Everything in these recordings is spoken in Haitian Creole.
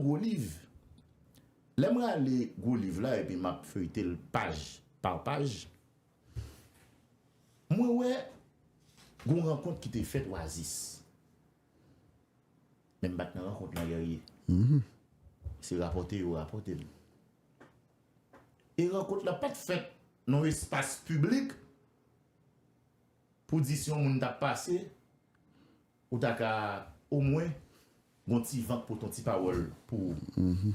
Gwo liv. Lè m rale gwo liv la epi m ap feyte l paj pa paj, mwen wè gen yon rankont ki te fèt Oasis. Men m pa t nan rankont lan Guerrier. Se rapòte yo rapòte m. E rankont la pa t fèt nan yon espas piblik pou di si yon moun t ap pase. Ou ta ka omwen gon ti vant pou ton ti pawòl pou ou.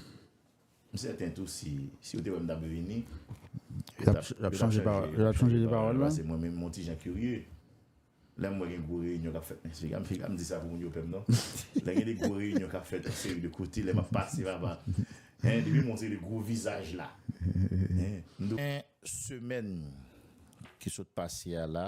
M sèten tou si yo te wè m ta dwe vini, yo t ap chanje pawòl yo. Pase mwen menm m on ti jan kirye. Lè m wè gen gwo reyinyon k ap fèt nan seri a, m pa di sa pou moun yo pè m non. Lè gen de gwo reyinyon k ap fèt yon seri de kote, lè m ap pase papa, hein, depi m wè yon seri de gwo vizaj la, hein, m di. Gen semèn ki sot pase a la,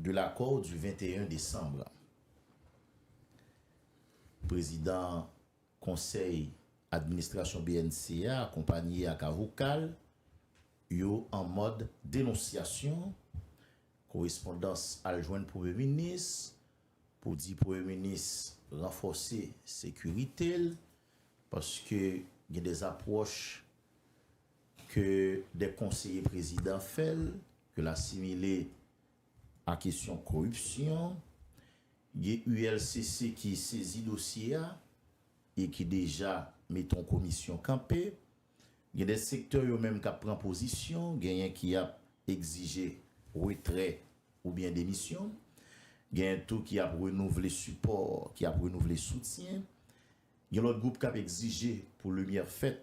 De l'accord du 21 décembre, Prezidan Konsèy Administrasyon bnc a akonpanye ak avoka l yo an mòd denonsyasyon, korespondans al jwenn Premye Minis pou di Premye Minis ranfòse sekirite l paske gen dezapwòch. ke dè konseye prezidan fè l, ke l asimile a kesyon koripsyon, gen ULCC ki sezi dosye a e ki deja mete yon komisyon kanpe, gen dè sektè yo menm k ap pran pozisyon, genyen ki ap egzije retrè oubyen demisyon, genyen tou ki ap renouvle sipò, ki ap renouvle soutyen, gen lòt gwoup k ap egzije pou limyè fèt.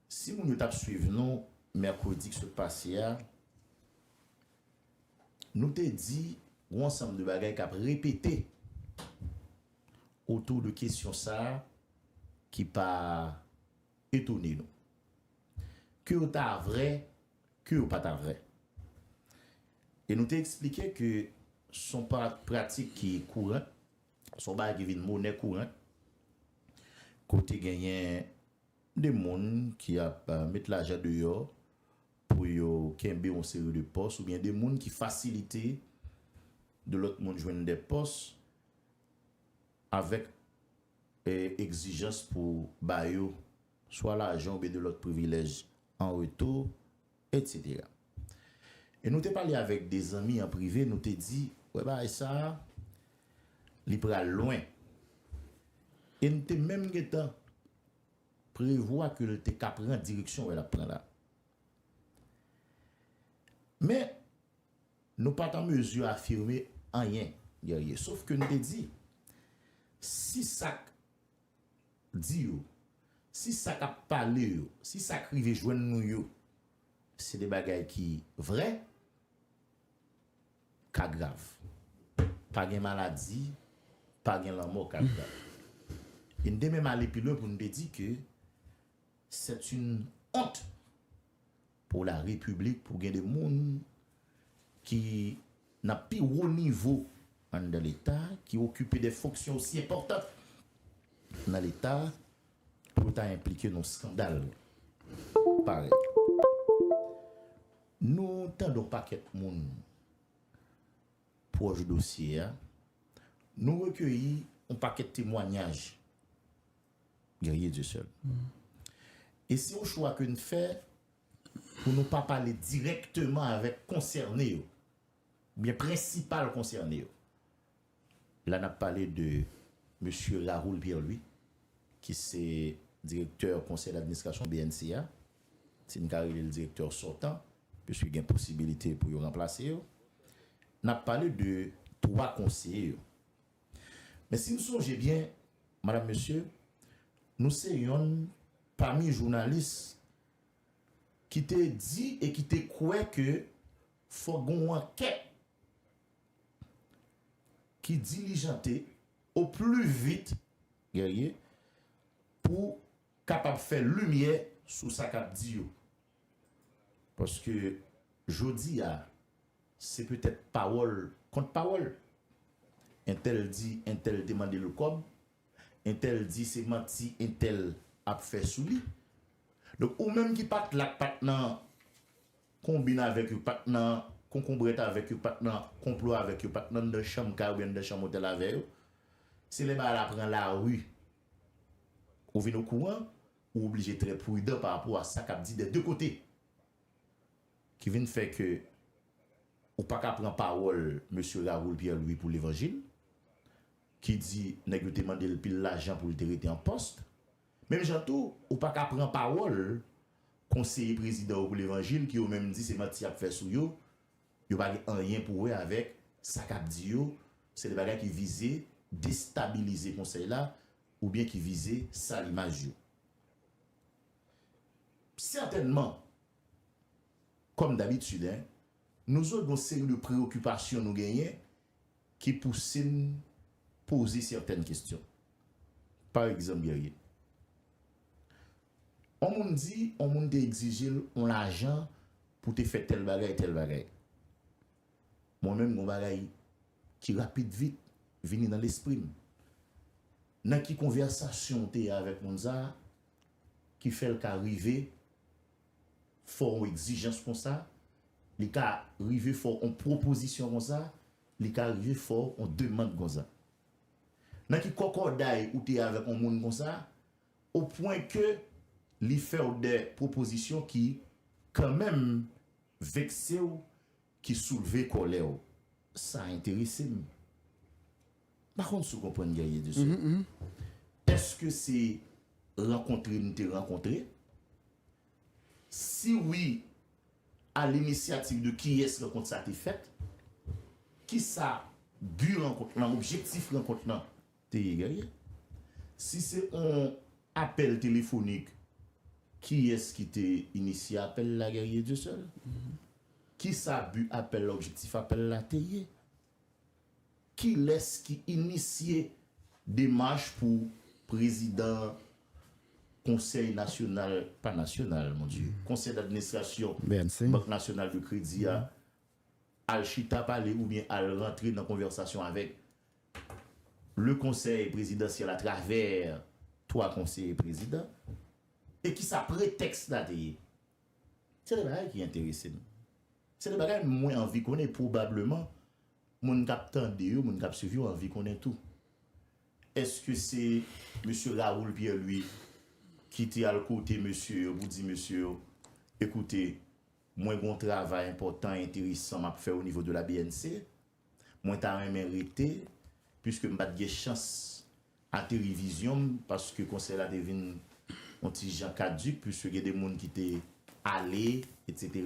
Si moun yo t ap swiv nou mèkredi k sot pase a, nou te di g'on ansanm de bagay k ap repete otou de kesyon sa a ki pa etone nou. Ke yo ta vrè, ke yo pa ta vrè. E nou te eksplike ke s'on pratik ki kourant, s'on bagay ki vin monè kourant, kote genyen. de moun ki ap met lajan deyò pou yo kenbe yon seri de pòs oubyen de moun ki fasilite de lòt moun jwenn de pòs avèk egzijans pou ba yo swa lajan oubyen de lòt privilèj an retou Etc. E nou te pale avèk de zanmi an prive nou te di wè bagay sa a li pral lwen. E n te menm gentan prevwa ke l te ka pran direksyon wè l ap pran la. Men nou pa t an mezi afime anyen Guerrier. Sof ke n te di si sa k Di yo, si sa k ap pale yo, si sa k rive jwenn nou yo, se de bagay ki vrè, ka grav. Pa gen maladi, pa gen lanmò ka grav. E n te menm ale pi lwen pou n te di ke sèt in ont Pou la repiblik pou gen de moun ki nan pi wo nivo anndan leta ki okipe de fonksyon osi enpòtan nan leta pou yo ta enplike nan skandal parèy nou tande yon pakèt moun pwòch dosye a nou rekeyi yon pakèt temwanyaj. Guerrier Dieuseul, E se yon chwa ke n fè pou nou pa pale dirèkteman avèk konsène yo, oubyen prensipal konsène yo. La n ap pale de Mesye Raoul Pierre Louis ki se direktè konsèy d'administrasyon bnc a, si n ka rele l direktè sòtan, piske gen posibilite pou yo ranplase yo. N ap pale de 3 konseye yo. Men si nou sonje byen, madam, mesye, nou se yonn pami jounalis ki te di e ki te kwè ke fòk gen yon ankèt ki dilijante o pli vit, Guerrier, pou kapab fè limyè sou sa k ap di yo. Paske jodi a. Se petèt pawòl kont pawòl. Entèl di entèl te mande l kòb, entèl di se manti entèl ap fè sou li. Donk ou menm ki pa t la, k pa t nan konbin avèk yo, k pa t nan konkonbrèt avèk yo, k pa t nan konplo avèk yo, pa t nan anndan chanm kay oubyen anndan chanm otèl avè yo, se lè bagay la pran lari ou vin okouran, ou oblije trè pridan parapò a sa k ap di dè de kote. Ki vin fè ke ou pa ka pran pawòl Mesye Raoul Pierre Louis pou levanjil, ki di nèg yo te mande l pil lajan pou l te rete an pòst. Menm jan tou, ou pa ka pran pawòl konseye prezidan yo pou levanjil ki yo menm di se manti y ap fè sou yo, yo pa gen anyen pou wè avèk sa k ap di yo, se de bagay ki vize destabilize konsèy la oubyen ki vize sal imaj yo. Sètènman, Kòm dabitid hein, nou zo gen yon seri de preyokipasyon nou genyen ki pouse n poze sètèn kestyon. Pa egzanp Guerrier, on moun di on moun te egzije l on lajan pou te fè tèl bagay, tèl bagay. Mwen menm gen yon bagay ki rapid vit vini nan lespri m. Nan ki konvèsasyon w te avèk moun sa a ki fè l ka rive fè w yon egzijans konsa, li ka rive fè w yon pwopozisyon konsa, li ka rive fè w yon demand konsa? Nan ki kòkòday ou te avèk yon moun konsa, o pwen ke li fè w de pwopozisyon ki kanmenm vekse w, Ki soulve kòlè w. Sa enterese m. M pa konn si w konprann Guerrier de Sceaux. Èske se rankontre n te rankontre? Si wi, a l'initiative de kiyès rankont sa te fèt? Kisa bi rankont lan, objektif rankont lan te ye gagè si se on apèl telefonik kiyès ki te inisye apèl la gagè Dieu seul kisa bu apèl la objektif apèl la te ye kilès ki inisye demach pou prezidan konsèy nasyonal pa nasyonal mon Dieu konsèy d'administrasyon bank nasyonal de kredi a al chita pale oubyen al rantre nan konvèsasyon avèk. Le konsèy prezidansyèl a travè 3 konseye prezidan e ki sa pretèks la te ye? Se 2 bagay ki enterese m. Se 2 bagay mwen anvi konnen e pwobableman moun k ap tande yo, moun k ap swiv yo anvi konnen tou. Eske se mesye Raoul Pierre Louis ki te al kote mesye yo pou di mesye yo, ekoute mwen gen yon travay enpòtan e enteresan m ap fè onivo de la bnc? Mwen ta renmen rete, piske m pa t gen chans ateri vizyon m, paske konsèy la te vin yon ti jan kaduk, piske gen de moun ki te ale, etc.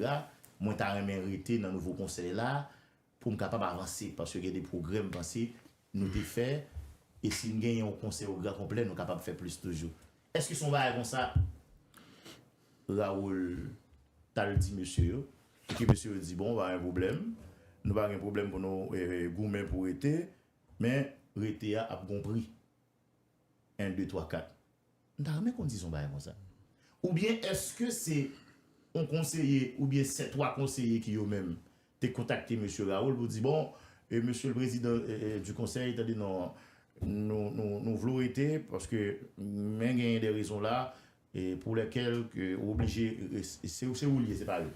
Mwen ta renmen rete nan nouvo konsèy la, pou m kapab avanse, paske gen de pwogrè m panse nou te fè, e si n genyen yon konsèy o gran konplè, nou kapab fè plis toujou. Èske se yon bagay konsa? Raoul t al di mesye yo, epi mesye yo di, Bon, pa gen pwoblèm. Nou pa gen pwoblèm pou nou goumen pou rete, men rete a ap gen yon pri. En, de, twa, kat. M ta renmen konn si se yon bagay konsa. Oubyen èske se yon konseye oubyen se twa konseye ki yo menm te kontakte mesye Raoul pou di, Bon, mesye le prezidan di konsèy, tande non, nou vle w rete paske men genyen de rezon la, Pour lesquel ke ou oblije se oul ye se pa yo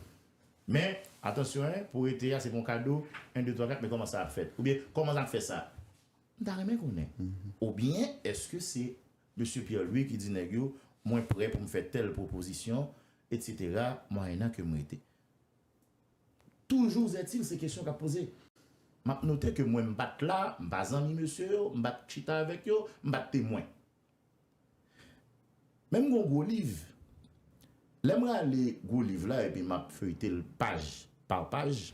men atansyon hein pou rete a se pon kado 1 2 3 4 men koman sa ap fèt oubyen koman zap fè sa m ta renmen konnen oubyen eske se mesye Pierre Louis ki di nèg yo mwen prè pou m fè tèl pwopozisyon etc mwayennan ke m rete toujou zètil se kesyon kap poze map note ke mwen m pat la m pa zanmi mesye yo m pat chita avèk yo m pat temwen Men m gon gwo liv. Lè m rale gwo liv la epi m ap feyte l paj pa paj,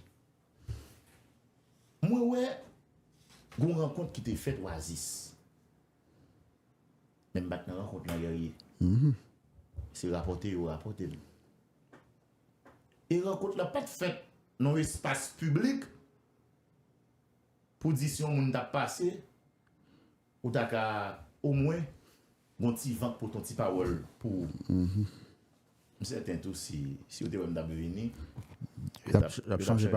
mwen wè gon rankont ki te fèt Wazis. Men m pa t nan rankont lan Guerrier. Se rapòte yo rapòte m. E rankont la pa t fèt nan yon espas piblik pou di si yon moun t ap pase. Ou ta ka omwen gon ti vant pou ton ti pawòl pou ou. M sèten tou si yo te wè m t ap vini, yo t ap chanje de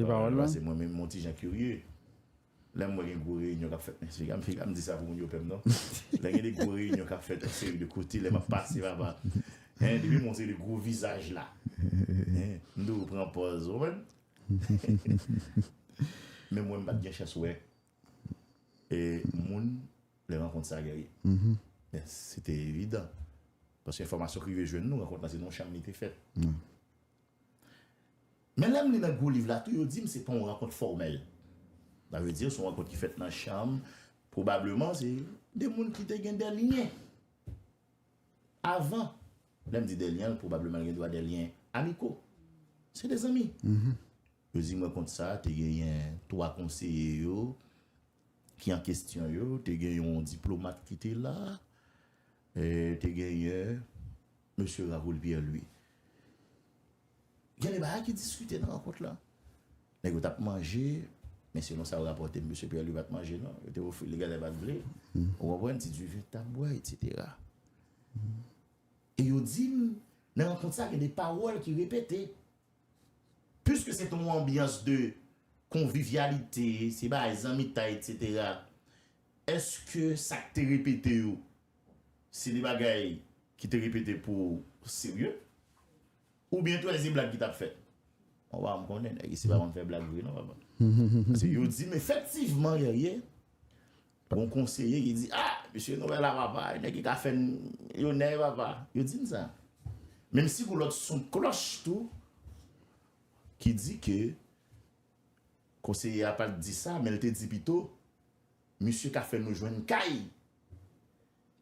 pawòl la. Pase mwen menm m on ti jan kirye. Lè m wè gen gwo reyinyon k ap fèt nan seri a, m pa m di sa pou moun yo pè m non. Lè gen de gwo reyinyon k ap fèt yon seri de kote, lè m ap pase papa, hen, depi m wè yon seri de gwo vizaj la, hen, m toujou pran pòz, ou konprann? Men mwen m pa t gen chans wè E moun lè rankont sa gen ri. Men se te evidan. Paske enfòmasyon ki rive jwenn nou, rankont la se nan yon chanm li te fèt. Men lè m li nan gwo liv la tou, yo di m se pa yon rankont fòmèl. Sa vle di se yon rankont ki fèt nan chanm, pwobableman se de moun ki te gen de lyen avan. Lè m di de lyen, pwobableman gen dwa de lyen amiko. Se de zanmi. Yo di mwen kont sa, te genyen 3 konseye yo ki an kestyon yo, te gen yon diplomat ki te la, te genyen Mesye Raoul Pierre Louis. Gen de bagay ki diskite nan rankont la. Nèg yo tap manje, men selon sa yo rapòte Mesye Pierre Louis pat manje non. Yo te ofri li gade pat vle. Ou konprann? Ti diven tap bwè etsetera. E yo di m nan rankont sa gen de pawòl ki repete. Puiske se te yon anbyans de konvivyalite, se bay zanmitay etc. Eske sa k te repete yo se de bagay ki te repete pou serye? Oubyen twèzi blag ki t ap fèt? Bon pa m konnen nèg isi pa konn fè blag vre non papa. Yo di m efektivman Guerrier, Gon konseye ki di ah mesye nou wè la papa e nèg ki ka fèn yo nèy papa yo dim sa menm si gon lòt son klòch tou ki di ke konseye a pat di sa menl te di pito misye ka fè nou jwenn kay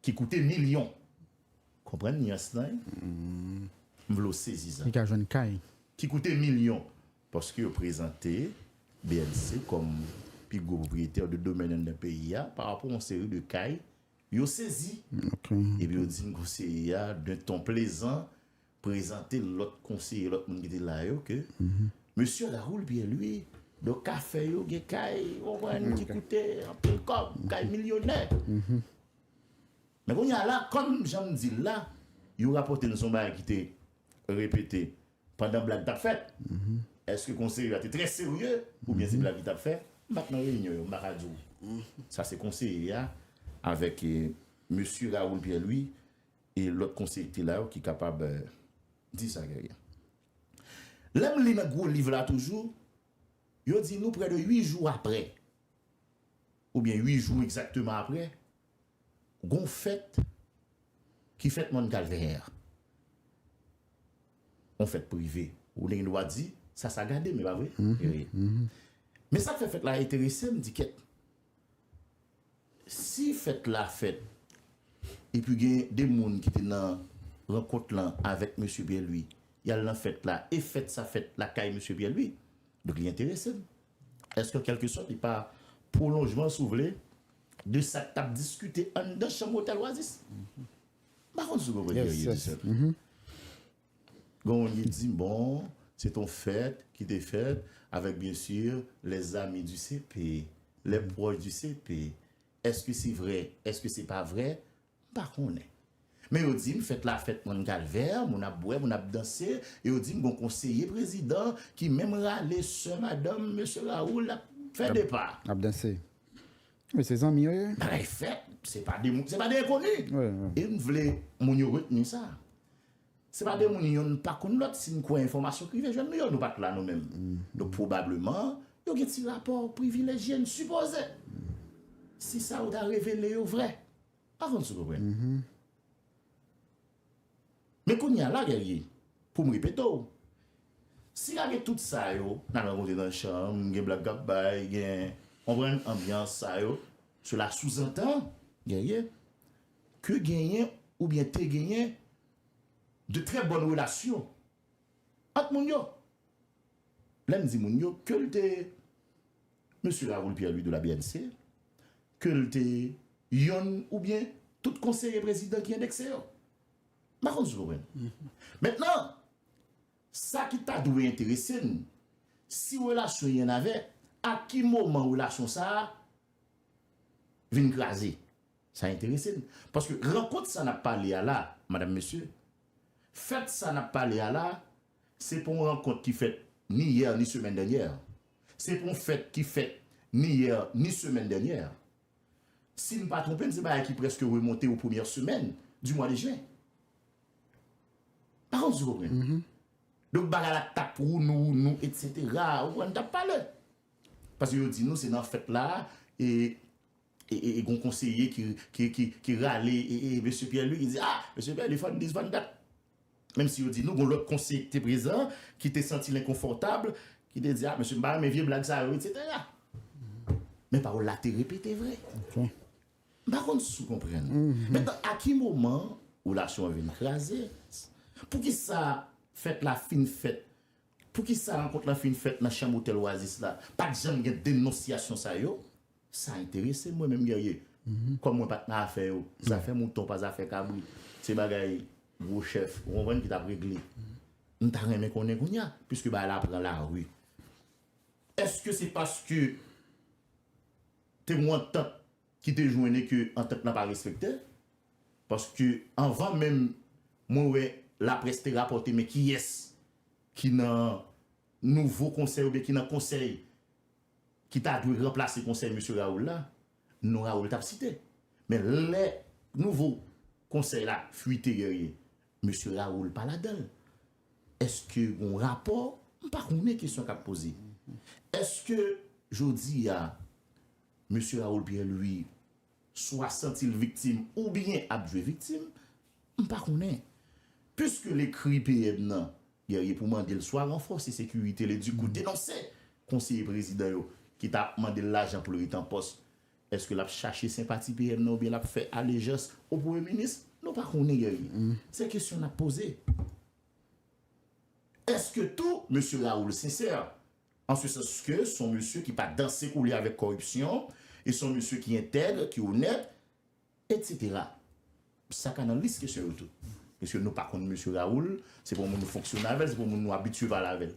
ki koute milyon konprann nyans lan wi m vle w sezi sa ki koute milyon Paske yo prezante BLC kòm pi gwo pwopriyetè de domèn anndan peyi a pa rapò yon seri de kay, yo sezi. Epi yo di m konseye a d'un ton plezan prezante lòt konseye, lòt moun ki te la yo ke Mesye Raoul Pierre Louis, donk kafe yo gen kay, ou konprann, ki koute anpil kòb, kay milyonè. Men kounye a la, kòm jan m di l la, yo rapòte m son bagay ki te repete Pandan blag t ap fèt, èske konseye yo a te trè serye oubyen se blag yo t ap fè? M pa t nan reyinyon yo, m pa ka di w. Sa se konseye a avèk Mesye Raoul Pierre Louis e lòt konseye ki te la yo ki kapab di sa, Guerrier. Lè m li nan gwo liv la toujou, yo di nou prè de 8 jou aprè. oubyen ui jou egzakteman apre, gon fèt ki fèt mòn Kalvè a. On fèt prive. Ou te gen dwa di, sa sagade, men pa vre? Men sa k fè fèt la enterese m, di kèt. Si fèt la fèt, epi gen de moun ki te nan rankont lan avèk mesye Pyè Lwi, y al nan fèt la, e fèt sa fèt lakay mesye Pyè Lwi, donk li enterese m. Èske kèlkesòt li pa pwolonjman si w vle de sa k t ap diskite anndan chanm otèl Oasis? M pa konn si w konprann Pierre Eugène Gen yon moun ki di m bon se t yon fèt ki te fèt avèk byen si lè zami di CP lè pwòch di CP èske se vrè èske se pa vrè M pa konnen. Men yo di m fèt la fèt Mòn Kalvè, moun ap bwè, moun ap danse, e yo di m gon konseye prezidan ki menm rale sè madanm mesye Raoul ap fè de pa. Ap danse. Wi, se zanmi yo ye. Bagay fèt, se pa de moun, se pa de enkoni. E m vle moun yo retni sa. Se pa de moun yonn pa konn lòt si n kwè enfòmasyon k rive jwenn nou yo. Nou pa t la nou menm. Donk pwobableman yo gen ti rapò privilejye, m sipoze. Si sa yo ta revele yo vrè. Avan m sou konprann. Men kounye a lagel ye pou m repete w. Si lage tout sa yo nap rankontre nan chanm gen blag kap bay gen konprann anbyans sa yo sela souzantan gen ye ke genyen oubyen te genyen de trè bòn relasyon ant moun yo. Lè m di moun yo ke l te Mesye Raoul Pierre Louis de la BNC ke l te yonn oubyen tout konseye prezidan ki endekse yo. M pa konn si w konprann. Mentnan, sa ki ta dwe enterese n, si relasyon yonn avè, a ki moman relasyon sa a vin kraze? Sa enterese n. Paske rankont sa n ap pale a la, madam, mesye, fèt sa n ap pale a la, Se pou yon rankont ki fèt ni yè ni semèn dènyè. Se pou yon fèt ki fèt ni yè ni semèn dènyè. Si m pa twonpe m se bagay ki prèske remonte o premyè semèn di mwa de jen. Pa konn si w konprann. Donk bagay la t ap wounou wounou etsetera ou konprann n t ap pale. Paske yo di nou se nan fèt la e gen yon konseye ki rale e mesye Pyè Lwi ki di a mesye Pyè Lwi fò n di fò n dat. Menm si yo di nou gon lòt konseye ki te prezan ki te santi l enkonfòtab, ki te di a mesye m pa renmen vye blag sa yo etsetera. Men pawòl la te repete vre. M pa konn si w konprann. Mentnan a ki moman relasyon an vin kraze? Poukisa fèt la fin fèt? Poukisa rankont la fin fèt nan chanm otèl Oasis la? Pa t janm gen denonsyasyon sa yo. Sa enterese mwen menm Guerrier. Kòm mwen pat nan afè yo, zafè mouton pa zafè kabrit, se bagay gwo chèf, ou konprann, ki t ap regle. M ta renmen konnen kounye a, piske bagay la pran lari, èske se paske te gon antant ki te jwenn e ke antant lan pa respekte? Paske anvan menm mwen wè laprès te rapòte men kiyès ki nan nouvo konsèy oubyen ki nan konsèy ki ta dwe ranplase konsèy mesye Raoul la, non Raoul t ap site. Men lè nouvo konsèy la fuite genyen mesye Raoul pa ladan l. Èske gen yon rapò? M pa konnen kesyon k ap poze. Èske jodi a mesye Raoul Pierre Louis swa santi l viktim oubyen ap jwe viktim, m pa konnen. Piske l ekri PM nan, Guerrier pou mande l swa ranfòse sekirite l e di kou denonse konseye prezidan yo ki ta mande l lajan pou l rete an pòs. Eske l ap chache senpati PM nan oubyen l ap fè alejans o premye minis, nou pa konnen Guerrier. Se kesyon n ap poze. Eske tou, mesye Raoul Sincère, an se sans ke s on mesye ki pa danse koule avèk kòripsyon, e s on mesye ki entègre, ki onèt, etsetera. Sa ka nan lis kesyon yo tou. Pwiske nou pa konn mesye Raoul, se pa yon moun nou fonksyone avè l, se pa yon moun nou abitye pale avè l.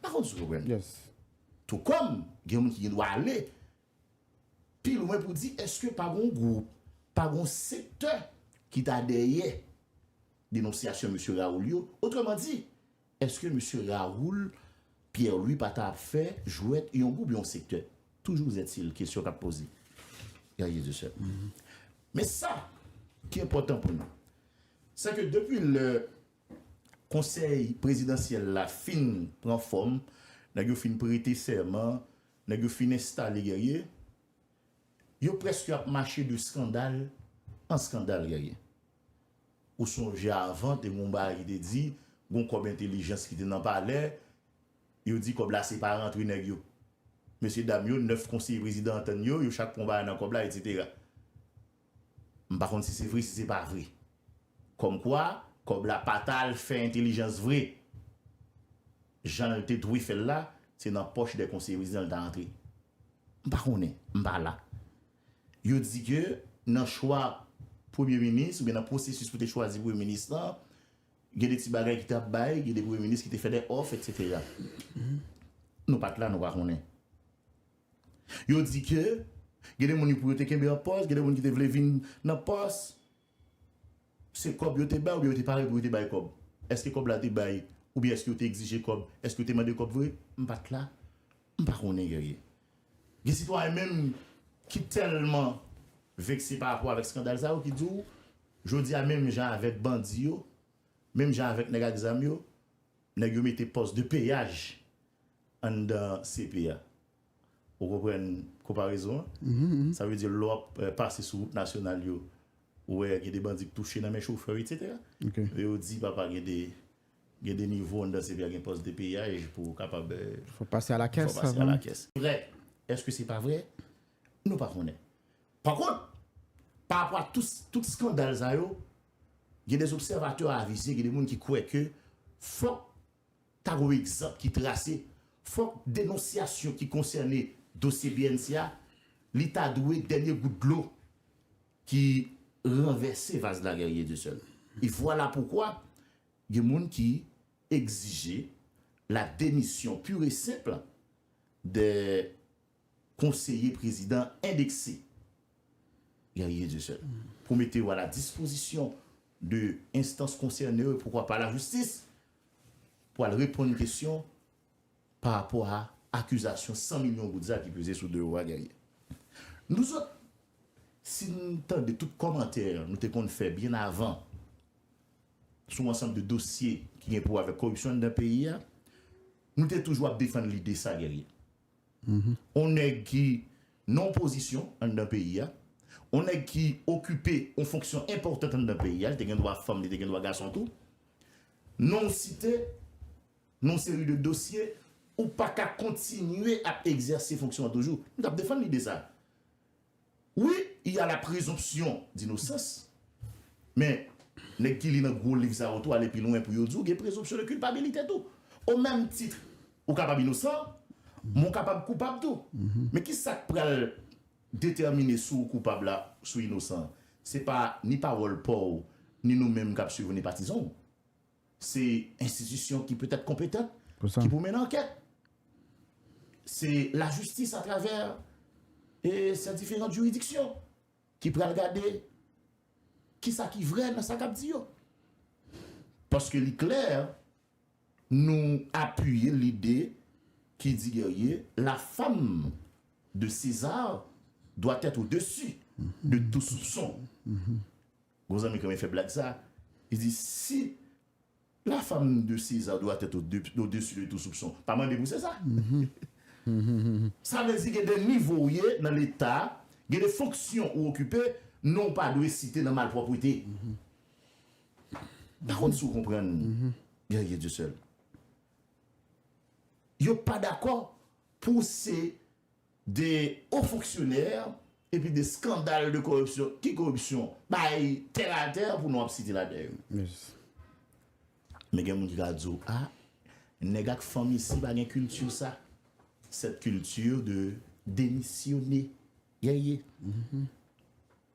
Pa konn si w konprann. Tou kòm, gen yon moun ki gen dwa ale pi lwen pou di èske pa gen yon gwoup, pa gen yon sektè ki ta dèyè denonsyasyon mesye Raoul yo. Otrèman di, Eske Mesye Raoul Pierre Louis pa ta ap fè jwèt yon gwoup yon sektè? Toujou zèt si l kesyon k ap poze. Pè Jezi sèl. Men sa ki enpòtan pou nou, se ke depi lè konsèy prezidansyèl la fin pran fòm, nèg yo fin prete sèman, nèg yo fin enstale Guerrier, yo prèske ap mache de skandal an skandal Guerrier. Ou sonje avan te gen yon bagay ki te di, gon kòb entelijans ki te nan palè, yo di kòb la se pa rantre nèg yo. Mesye dam yo, 9 konseye prezidan antann yo, yo chak pran yon bagay nan kòb la, etsetera. M pa konn si se vre, si se pa vre. Kòm kwa, kòb la pa ta al fè entelijans vre. Jan l te dwe fè l la, se nan pòch 2 konseye prezidan l ta antre. M pa konnen, m pa la. Yo di ke nan chwa premye minis oubyen nan pwosesis pou te chwazi premye minis lan, gen de ti bagay ki tap bay, gen de premye minis ki te fè de òf etsetera. Nou pat la nou pa konnen. Yo di ke gen de moun yo pou yo te kenbe an pòs, gen de moun ki te vle vin nan pòs. Se kòb yo te bay oubyen yo te pare pou yo te bay kòb? Eske kòb la te bay oubyen eske yo te egzije kòb? Eske yo te mande kòb vre? M pa t la, m pa konnen Guerrier. Gen sitwayen menm ki tèlman vekse pa rapò avèk skandal sa yo ki di w jodi a menm jan avèk bandi yo, menm jan avèk nèg ak zam yo, nèg yo mete pòs de peyaj anndan CP a. Ou konprann konparezon an? Sa vle di lè w ap pase sou wout nasyonal yo, ou wè gen de bandi k touche nan men chofè yo etsetera. E yo di papa gen de gen de nivo anndan CPI a gen pòs de peyaj pou w kapab Fò w pase alakès avan. Fò w pase alakès. Vrè. Èske se pa vrè? Nou pa konnen. Pa kont, pa rapò a tout tout skandal sa yo, gen de zobsèvatè avize, gen de moun ki kwè ke fòk Ta gen yon egzanp ki trase, fòk denonsyasyon ki konsène dosye bnc a, li ta dwe dènye gout dlo ki ranvèse vaz la Guerrier Dieu seul. E vwala poukwa gen moun ki egzije la demisyon pur et simple de Konseye prezidan endekse Guerrier Dieuseul pou mete yo a la dispozisyon de enstans konsène yo, poukwa pa lajistis, pou al reponn kesyon pa rapò a akizasyon 100 milyon goud sa ki peze sou do yo a, Guerrier. Nouzot, si n tande tout kòmantè nou te konn fè byen avan sou ansanm de dosye ki gen pou wè avèk koripsyon anndan peyi a, nou te toujou ap defann lide sa, Guerrier. on nèg ki nan yon pozisyon anndan peyi a, on nèg ki okipe yon fonksyon enpòtant anndan peyi a, li te gen dwa fanm, li te gen dwa gason tou, non w site nan yon seri de dosye, ou pa ka kontinye ap egzèse fonksyon an toujou. M t ap defann lide sa a. Wi, il y a la presomption d'innocence, men nèg ki li nan gwo liv sa yo tou ale pi lwen pou yo di w gen presomption de culpabilité tou. O menm tit ou kapab inosan, men w kapab koupab tou. Men ki sa k pral detèmine si w koupab la, si w inosan? Se pa ni pawòl pa w, ni nou menm k ap suiv ou, ni patizan w. Se enstitisyon ki petèt konpetan, ki pou mennen ankèt. Se lajistis atravè e se diferant jiridiksyon ki pral gade ki sa ki vre nan sa k ap di yo. Paske li klè, nou apiye lide ki di dèyè la fam de Sezar dwa tèt o desi de tou soupson. Gon zanmi k renmen fè blag sa, li di, Si la femme de César doit être au-dessus de tout soupçon, pa mande pou César. Sa vle di gen de nivo ou ye nan leta, gen de fonksyon ou okipe, non w pa dwe site nan malpwòpwete. M pa konn si w konprann Guerrier Dieuseul. Yo pa dakò pou w se. de o fonksyonè epi de skandal de koripsyon ki koripsyon bay tè la tè pou nou ap site la dè yo men gen moun ki ka di w a nèg ak fanm isi pa gen kilti sa sèt kilti de demisyone gen ye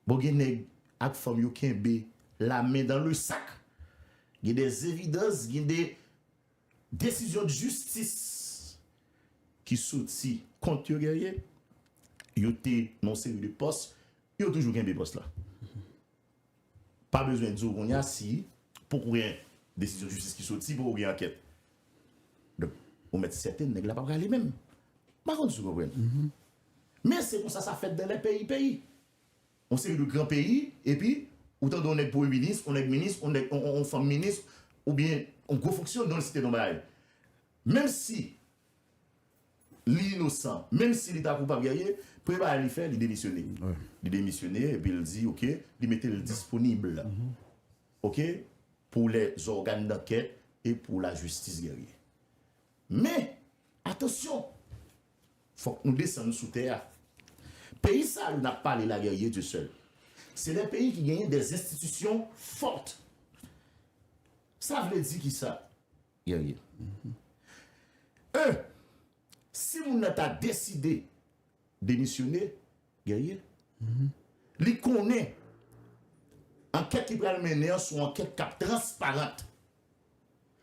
bon gen nèg ak fanm yo kenbe la men dan le sak gen de evidans gen de Desizyon jistis ki soti kont yo gèye yo te nan yon seri de pòs yo toujou kenbe pòs la pa bezwen di w kounye a si poko gen desizyon jistis ki soti poko gen ankèt donk ou mèt sèten nèg la pa prale menm m pa konn si w konprann men se konsa sa fèt dan lè peyi peyi. Yon seri de gran peyi, epi ou tande yon nèg premye minis, yon nèg minis, yon nèg, yon fanm minis, oubyen yon gwo fonksyon non l site non bagay. Menm si li inosan, menm si li ta koupab gèyè, premye bagay li fè, li demisyone. Li demisyone, epi l di ok, li mete l disponib ok pou lè zògàn dankèt e pou lajistis gèyè. Men, atansyon! Fòk nou desann sou tè a. Peyi sa yo nap pale la guerrier Dieu seul se de peyi ki genyen des institutions fortes sa vle di kisa guerrier? Un si moun nan ta deside demisyone guerrier li konnen ankèt li pral mennen an son ankèt kap transparente.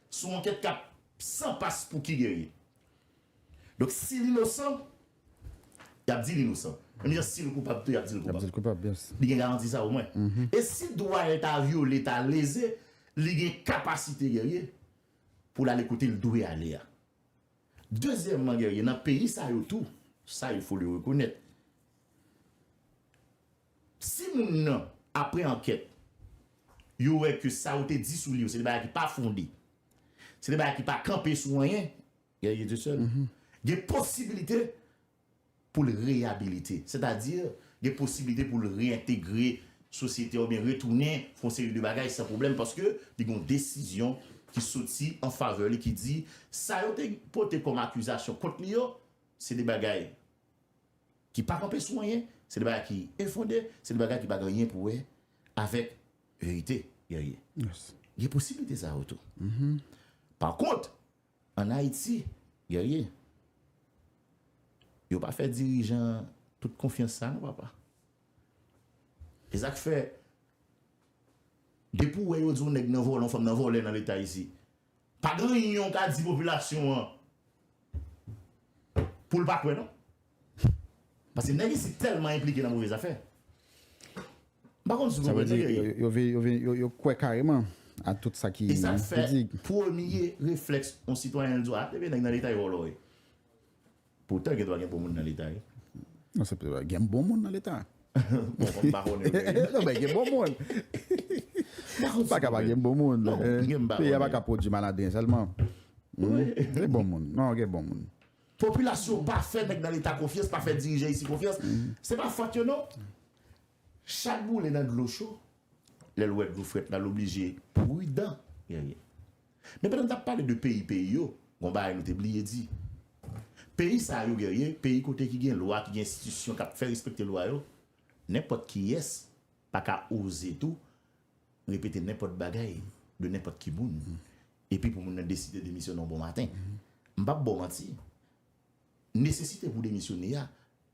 Sou ankèt kap San pas pou ki guerrier. Donk si l inosan yap di l inosan. Menm jan si l koupab tou yap di l koupab. Li gen garanti sa omwen. E si dwa l ta vyole, ta leze, li gen kapasite guerrier pou l ale kote l dwe ale a. Dezyèmman guerrier nan peyi sa yo tou, sa il fo le rekonèt. Si moun nan, apre ankèt, yo wè ke sa ou te di sou li yo se te bagay ki pa fonde, se te bagay ki pa kanpe sou anyen, gen posibilite pou l reyabilite. Sètadi, gen posibilite pou l reyentegre sosyete a oubyen retounen fè yon seri de bagay san pwoblèm paske li gen yon desizyon ki soti an favè li ki di sa yo te pote kòm akizasyon kont li yo se de bagay ki pa kanpe sou anyen, se de bagay ki enfonde, se de bagay ki pa gen anyen pou wè avèk verite, Guerrier. Gen posiblite sa yo tou. Pa kont, an Ayiti, Guerrier, yo pa fè dirijan tout konfyans sa non papa. Se sa k fè, depi ou wè yo di yon nèg nan vòlè, yon fanm nan vòlè nan leta isit, Pa gen anyen ou ka di popilasyon an pou l pa kwè non. Paske nèg isit tèlman enplike nan move zafè. M pa konn si w konprann nèg yo ye. Sa vle di yo kwè kareman a tout sa ki di. E sa fè premye reflèks yon sitwayen l di w a, ah, ebyen nèg nan leta yo vòlò wi. Poutan gen dwa gen bon moun nan leta wi. Non se pa gen bon moun nan leta. Bon m pa konnen vre. Non men gen bon moun. Ou pa ka pa gen bon moun. Non gen m pa konnen. Peyi a pa ka pwodui malandren sèlman. Gen bon moun. Non gen bon moun. Popilasyon pa fè nèg nan leta konfyans, pa fè dirijan isi konfyans. Se pa fòt yo non. Chat boule nan dlo cho. Lè l wè dlo frèt la, l oblije pridan. Men pandan n t ap pale de peyi peyi yo, gen yon bagay nou te bliye di. Peyi sa yo Guerrier, peyi kote ki gen lwa, ki gen enstitisyon k ap fè respekte lwa yo, nenpòt kiyès pa ka oze tou repete nenpòt bagay de nenpòt ki moun epi pou moun nan deside demisyone yon bon maten. M p ap ba w manti, nesesite pou w demisyone a,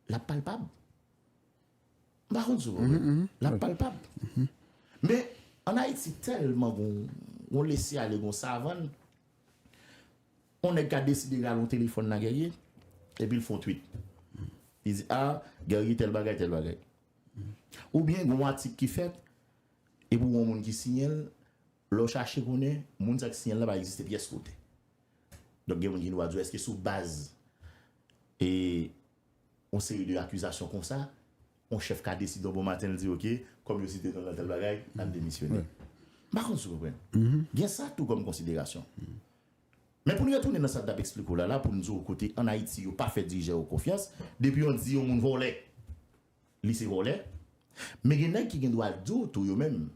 l ap palpab. M pa konn si w konprann. L ap palpab. Men, ann Ayiti, tèlman gen yon lese ale, gen yon savann, yon nèg ka deside rale yon telefòn nan Guerrier epi l fè yon twit. Li di, A, Guerrier tèl bagay, tèl bagay. Oubyen gen yon atik ki fèt epi w gen yon moun ki siyen l, lè w chache konnen, moun sa ki siyen l la pa egziste pyès kote. Donk gen moun ki gen dwa di w èske sou baz e. yon seri de akizasyon konsa, yon chèf ka desidè yon bon maten li di ok, kòm yo site non nan tèl bagay, m ap demisyone. M pa konn si w konprann. Gen sa tou kòm konsiderasyon. Men pou n retounen nan sa n t ap esplike w la la pou n di w kote ann Ayiti yo pa fè dirijè yo konfyans, depi yon di yon moun vòlè, li se vòlè. Men gen nèg ki gen dwa di w tou yo menm,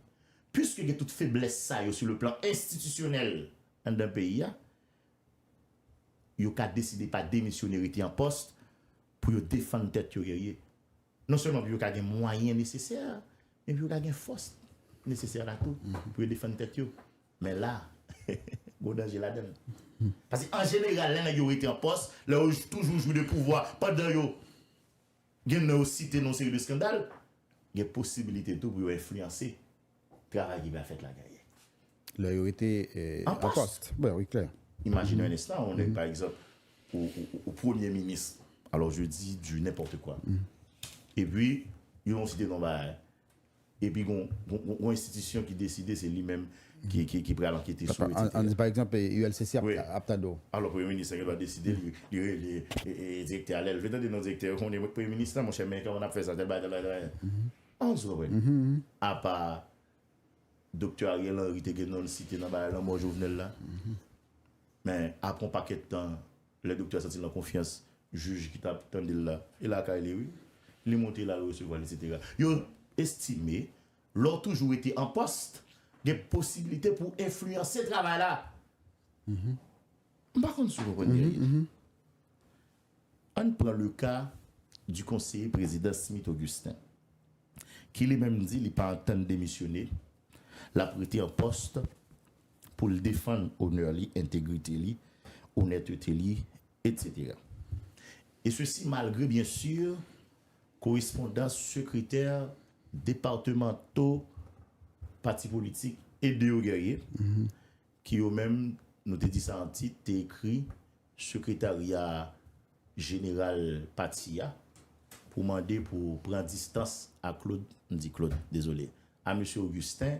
piske gen tout feblès sa yo sou le plan enstitisyonèl anndan peyi a, yo ka deside pa demisyone rete an pòs pou yo defann tèt yo Guerrier. Non sèlman pou yo ka gen mwayen nesesè, men pou yo ka gen fòs nesesè la tou pou yo defann tèt yo. Men la, gwo danje ladan l. Paske an jeneral lè nèg yo rete an pòs, lè yo toujou jwi de pouvwa pandan yo. Gen nan yo site nan yon seri de skandal, gen posibilite tou pou yo enfliyanse travay ki pral fèt la dèyè. Lè yo rete an pòs. Imajine yon enstan, yon nèg pa egzanp, ou premye minis, alò je di di nenpòte kwa, epi yo site non bagay, Epi gon yon enstitisyon ki deside se li menm ki pral ankete sou etc. An di pa egzanp ULCC ap tande w. Alò premye minis lan gen dwa deside li rele direktè a lè l vle tande non direktè yo konnen premye minis lan monchè men kòman n ap fè sa tèl bagay tèl bagay tèl bagay. An sou konprann? Apa doktè Ariel Henry te gen non l site nan bagay lanmò Jovenel la men apre yon pakèt tan Lè doktè a santi l nan konfyans jij ki t ap tande l la, e lakay li wi, li monte l al resevwa l eksetera. Yo estime lè w toujou rete an pòst, gen posibilite pou w enfliyanse travay la. M pa konn si w konprann byen li. An n pran le ka di konseye prezidan Smith Augustin ki li menm di li pa antann demisyone, l ap rete an pòst pou l defann onè li, entegrite li, onètete li, etc. E sesi malgre byen si korespondans sekretè departemanto pati politik e de yo gèrye, ki yo menm, nou te di sa an tit, te ekri sekretarya jeneral pati a pou mande pou pran distans a Claude, m di Claude, dezole, a Mesye Augustin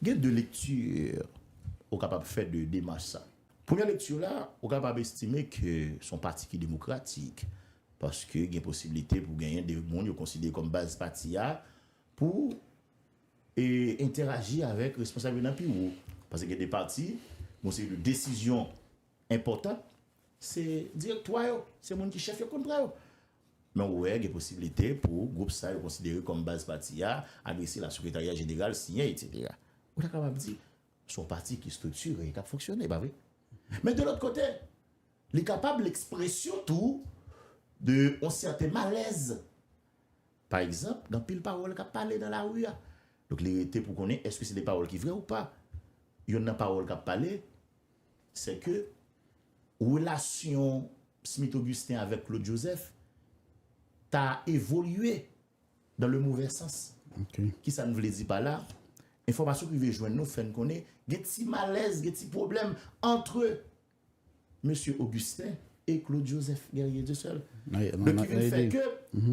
Gen 2 lekti ou kapab fè de demach sa. Premyè lekti la, ou kapab estime ke s on pati ki demokratik, paske gen posibilite pou genyen 2 moun yo konsidere kòm baz pati a pou entèraji avèk responsab yo nan pi wo. Paske gen 2 pati, gen yon seri de desizyon enpòtan, se direktwa yo, se moun ki chèf yo k konn pran yo. Men ou wè gen posibilite pou gwoup sa yo konsidere kòm baz pati a, adrese la sekretarya jeneral, siyen etsetera. Ou ta kapab di, se yon pati ki striktire e k ap fonksyone, pa vre? Men de lòt kote, li kapab lekspresyon tou de yon sèten malèz, pa egzanp, gen anpil pawòl k ap pale nan lari a. Donk li rete pou konnen èske se de pawòl ki vre ou pa. Yonn nan pawòl k ap pale. Sè ke, relasyon Smith Augustin avèk Claude Joseph ta evolye dan le movè sans. Ki sa n vle di pa la? Enfòmasyon ki rive jwenn nou fè n konnen gen ti malèz, gen ti pwoblèm antre Mesye Augustin e Claude Joseph Guerrier Dieuseul. Donk ki vin fè ke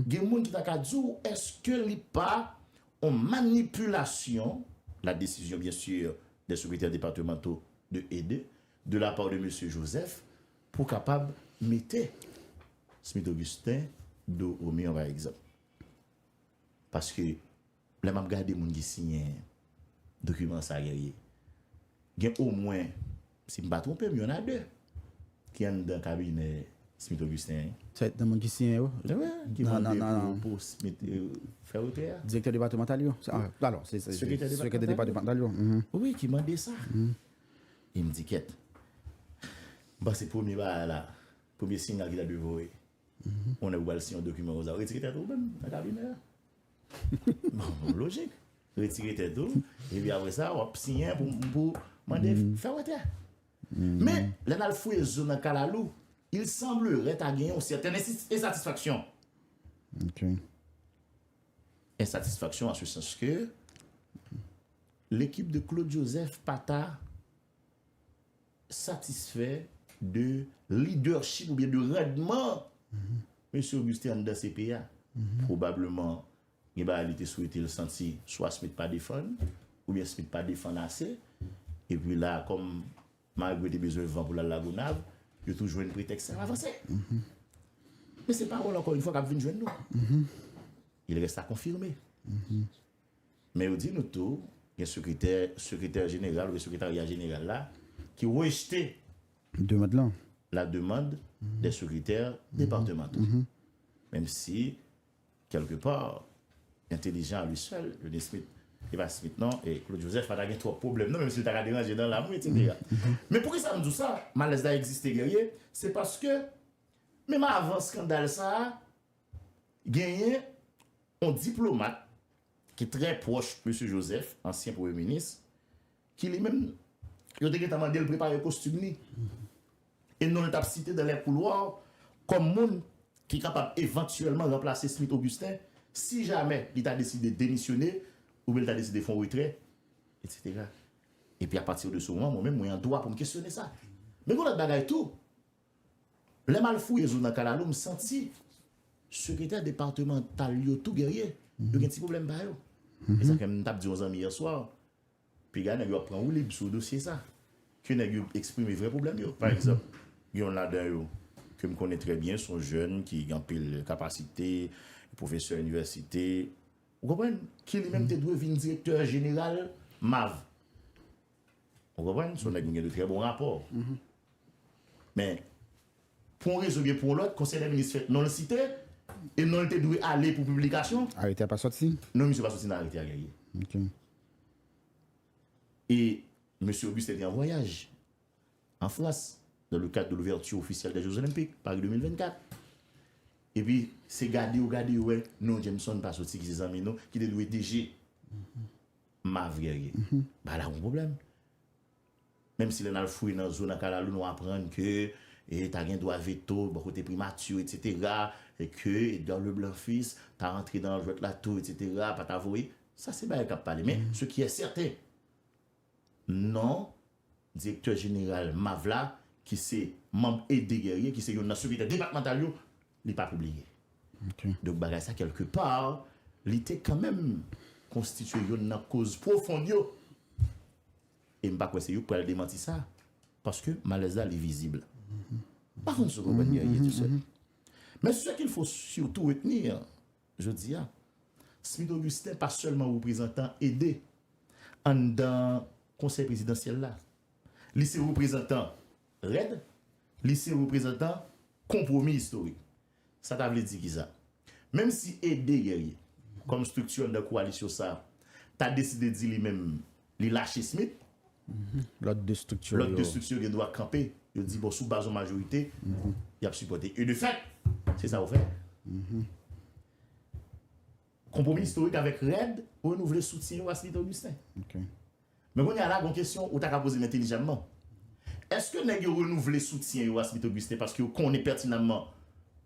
gen moun ki ta ka di w, èske li pa On manipulation, la décision bien sûr des secrétaires départementaux de et de, de la part de Monsieur Joseph, pou kapab mete Smith Augustin do au mur par exemple. Paske, lè m'ap gade moun ki siyen dokiman sa Guerrier, gen omwen. Si m pa twonpe m, y on a de ki anndan kabinè Smith Augustin an. Sa e nan moun ki siyen yo? Wi, ki mande pou Smith fè retrè a. Direktè depatemantal yo? Alò, se sekretè depatemantal yo. Wi, ki mande sa. E m di kèt. M panse premye bagay la, premye sinyal ki ta dwe voye, on nèg ou pral siyen yon dokiman konsa, ou retire tèt ou menm nan kabinè a. Bon, lojik. Retire tèt ou, epi apre sa, w ap siyen pou mande fè wotè. Men, lè n al fouye zo nan kalalou, il semblerait ta gen yon sèten ensatisfaksyon. Ok. Ensatisfaksyon an se sans ke, lekip de Claude Joseph pa ta satisfè de lidèchip oubyen de randman Mesye Augustin anndan CP a. Pwobableman gen bagay li te swete l santi swa Smith pa defann oubyen Smith pa defann ase. Epi la kòm Magre te bezwen van pou l al Lagonav, yo tou jwenn pretèks sa, y ap avanse. Men se pawòl ankò yon fwa k ap vin jwenn nou. Il reste à confirmer. Men yo di nou tou gen sekretè sekretè jeneral oubyen sekretarya jeneral la ki rejte demand lan la demande des secrétaires départementaux. Menm si kèlke pa, entelijan a lui sèl, yo di Smith, e pa Smith non, e Claude Joseph pa ta gen twòp pwoblèm non menm si l ta ka deranje nan lam wi etsetera. Men poukisa m di w sa, malèz la egziste Guerrier, se paske menm avan skandal sa a, Genyen yon diplomat ki trè pwòch Mesye Joseph, ansyen premye minis, ki li menm, yo te gentan mande l prepare kostim li. E non l t ap site dans les couloirs kòm moun ki kapab evantyèlman ranplase Smith Augustin si jamè li ta deside demisyone oubyen li ta deside fè yon retrè, etsetera. Epi a partir de ce moment, mwen menm mwen an dwa pou m kesyone sa. Men gen yon lòt bagay tou. Lè m al fouye zo nan kalalou m santi sekretè departemantal yo tou gèrye, yo gen ti pwoblèm pa yo. E sa fè m tap di yon zanmi yè swa, piga nèg yo ap pran woulib sou dosye sa, ke nèg yo eksprime vrè pwoblèm yo. Pa egzanp, gen yon ladan yo ke m konnen trè byen, se yon jèn ki gen anpil kapasite, pwofesè inivèsite, ou konprann, ki li menm te dwe vin direktè jeneral MAVH. Ou konprann? Se yon nèg nou gen de trè bon rapò. Men, pou yon rezon oubyen pou yon lòt, Konsèy dè Minis fèt non l site, e non l te dwe ale pou piblikasyon. Arete a pa soti? Non, misye pa soti nan arete a, Guerrier. Ok. E, Mesye Augustin te an vwayaj, an Frans, nan le kad de l'ouverture officielle des Jeux Olympiques, Paris 2024. E pi, se gade yo gade yo wè, non Jameson pa soti ki se zanmi nou, ki te dwe DG. Mavrye, ba la gon pwoblèm. Menm si lè n al fouye nan zo nan kalalou nou aprann ke ta gen dwa veto bò kote primati yo etsetera, e ke Edgar Leblanc Fils ta rantre nan jwèt la tou etsetera, pa ta voye, sa se bagay k ap pale. Men, se ki è sèten, non Direktè jeneral MAVH la, ki se manm Aidé Guerrier, ki se youn nan sekretè depatmantal yo, li pa pibliye. Donk bagay sa kèlke pa, li te kanmenm konstitye youn nan koz pwofond yo. E m pa kwè se yo k pral demanti sa, paske malèz la li vizib. M pa konn si w konprann Guerrier, tu sais. Men ce qu'il faut surtout retenir, Jodi a, Smith Augustin pa sèlman reprezantan ede anndan Konsèy Prezidansyèl la. Li se reprezantan REDD, li se reprezantan Konpwomi Istorik. Sa ta vle di ki sa? Menm si ede Guerrier, kòm estrikti anndan kowalisyon sa a, ta deside di li menm Li lache Smith, lòt 2 strikti yo gen dwa kanpe, yo di bon sou baz yon majorite, y ap sipòte. E de fèt, se sa yo fè. Konpwomi istorik avèk REDD renouvle soutyen yo a Smith Augustin. Men kounye a la gen yon kesyon ou ta ka poze m entelijamman. Èske nèg yo renouvle soutyen yo a Smith Augustin paske yo konnen pètinamman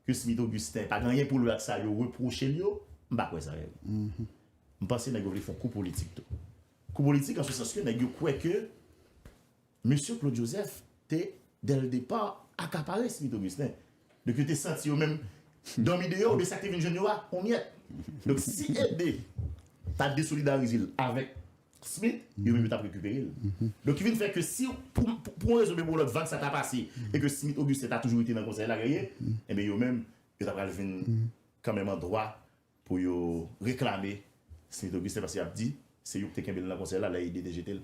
ke Smith Augustin pa gen anyen pou l wè ak sa yo repwoche l yo? M pa kwè sa. M panse nèg yo vle fon kou politik tou. Kou politik an se sans ke nèg yo kwè ke Mesye Claude Joseph te dè l depa akapare Smith Augustin. Donk yo te santi yo menm dòmi deyò oubyen sa k te vin jwenn yo a on myèt. Donk si Ede ta desolidarize l avèk Smith, yo menm yo t ap rekipere l. Donk ki vin fè ke si pou on rezon oubyen pou on lòt vag sa ta pase e ke Smith Augustin ta toujou rete nan Konsèy la, Guerrier, enben yo menm yo ta pral vin kanmenm an dwa Pou yo reklame Smith Augustin paske yap di se yo ki te kenbe l nan konsèy la lè Aidé te jete l.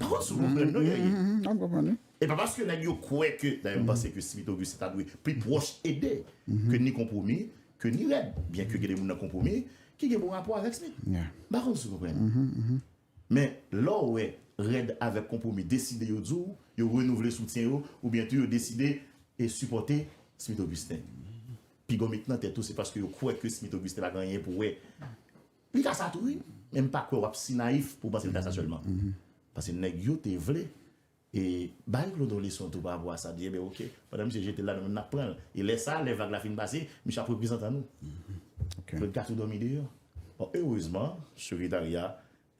Pa fò sou konprann non Guerrier. Map konprann wi. E pa paske nèg yo kwè ke, dayè m panse ke Smith Augustin ta dwe pi pwòch Aidé ke ni Konpwomi ke ni Rèd byen ke gen de moun nan Konpwomi ki gen bon rapò avèk Smith. M pa konn si w konprann. Men, lè w wè REDD avèk Konpwomi deside yo di w yo renouvle soutyen yo oubyen tou yo deside sipòte Smith Augustin, pi gon mit nan tèt ou se paske yo kwè ke Smith Augustin pa gen anyen pou wè. Li ka sa tou wi, men m pa kwè w ap si nayif pou w panse l ka sa sèlman. Pase nèg yo te vle E bay Claude yon leson tou parapò a sa, di enben ok, pandan misye jete l la nou menm n ap pran l. E lè sa a, lè vag la fin pase, misye ap reprezantan nou. Claude ka tou dòmi deyò. Bon, erezman, sekretarya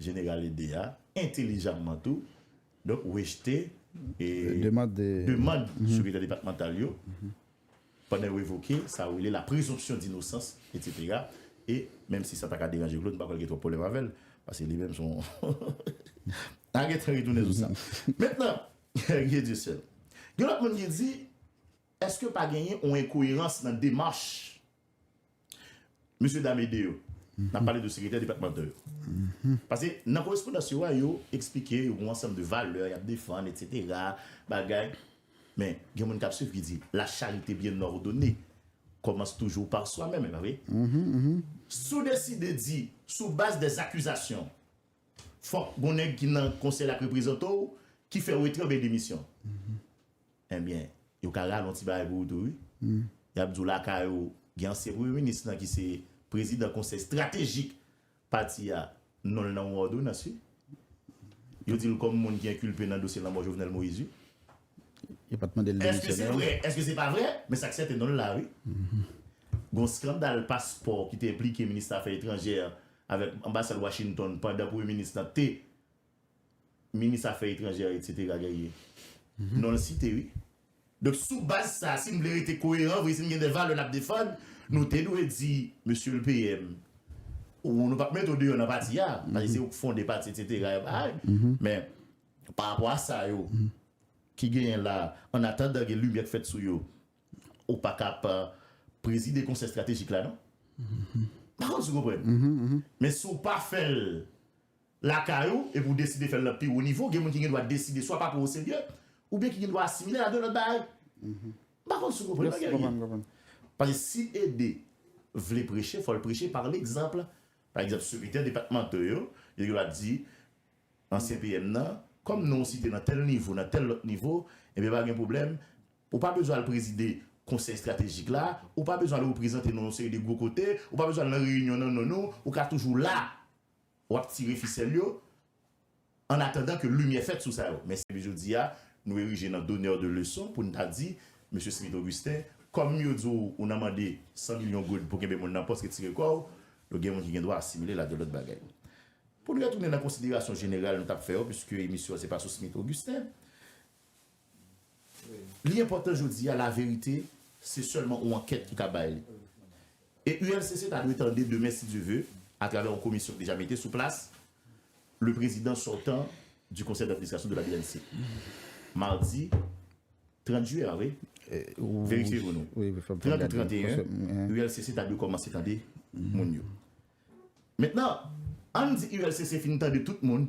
jeneral ede a, entelijamman tou, donk rejte demand sekretè depatmantal yo. Pandan yo evoke sa yo rele la prezonpsyon dinosans, etsetera, e, menm si sa ta ka deranje Claude, m pa kwè l gen twòp pwoblèm avè l, paske li menm se yon, a gen tan retounen sou sa. Mentnan, Guy Dieuseul, gen lòt moun ki di, èske pa genyen yon enkoyerans nan demach Mesye dam ede yo. Nap pale de sekretè depatmantal yo. Pase nan korespondans yo a yo eksplike yon ansanm de valè yap defann etc. Bagay Men gen moun kap swiv ki di la charite byen òdone kòmanse toujou par swa menm epa vre? Si w deside di sou baz de zakizasyon fòk gon nèg ki nan konsèy la k reprezante w ki fè w etre oubyen demisyon. Ebyen, yo ka rale yon ti bagay pou ou tou wi. Y ap di w lakay ou gen ansyen premye minis lan ki se prezidan konsèy estratejik pati a, non l nan yon òdonans wi. Yo di l kòm moun ki enkilpe nan dosye lanmò Jovenel Moïse wi. Yo pa t mande l demisyone. Èske se vre, èske se pa vre, men sa k sèten non l la wi. Gen yon skandal paspò ki te enplike minis afè etranjè avèk anbasad Washington pandan premye minis lan te minis afè etranjè etc gen ye non l site wi. Donk sou baz sa si n vle rete koyeran vre si n gen de valè n ap defann nou te dwe di mesye l PM ou nou p ap mete w deyò nan pati a paske se ou k fonde pati etc yon bagay men pa rapò a sa yo ki genyen la an atandan gen limyè k fèt sou yo ou pa ka ap prezide konsèy estratejik la non m pa konn si w konprann men si w pa fè l. lakay ou epi ou deside fè l nan pi wo nivo, gen moun ki gen dwa deside swa pa pran w oserye, oubyen ki gen dwa asimile l a de lòt bagay. M pa konn si w konprann nan, Guerrier. Paske si Ede vle preche, fò l preche pa legzanp. Pa egzanp, sekretè depatmanto yo, yo gen dwa di ansyen PM nan, kòm non w site nan tèl nivo, nan tèl lòt nivo, enben pa gen pwoblèm, ou pa bezwen al prezide konsèy estratejik la, ou pa bezwen al reprezante nou yon seri de gwo kote, ou pa bezwen al nan reyinyon nan non nou, ou ka toujou la W ap tire fisèl yo ann atandan ke limyè fèt sou sa yo. Men se jodi a nou erije nan donneur de leçon pou n ta di, Mesye Smith Augustin, kòm yo di w ou nan mande 100 milyon goud pou kenbe moun nan pòs, retire kò w, yo gen moun ki gen dwa asimile l ak de lòt bagay. Pou n retounen nan konsiderasyon jeneral nou t ap fè yo, piske emisyon an se pa sou Smith Augustin, Li enpòtan jodi a laverite se sèlman on ankèt ki ka bay li. E ULCC ta dwe tande demen si Dye ve, atravè on komisyon ki deja mete sou plas, le prezidan sòtan di konsèy dadministrasyon de la bnc. Mardi 30 jiyè a wi, verifye pou nou. 30 ou 31, ULCC ta dwe kòmanse tande moun yo. Mentnan, ann di ULCC fin tande tout moun,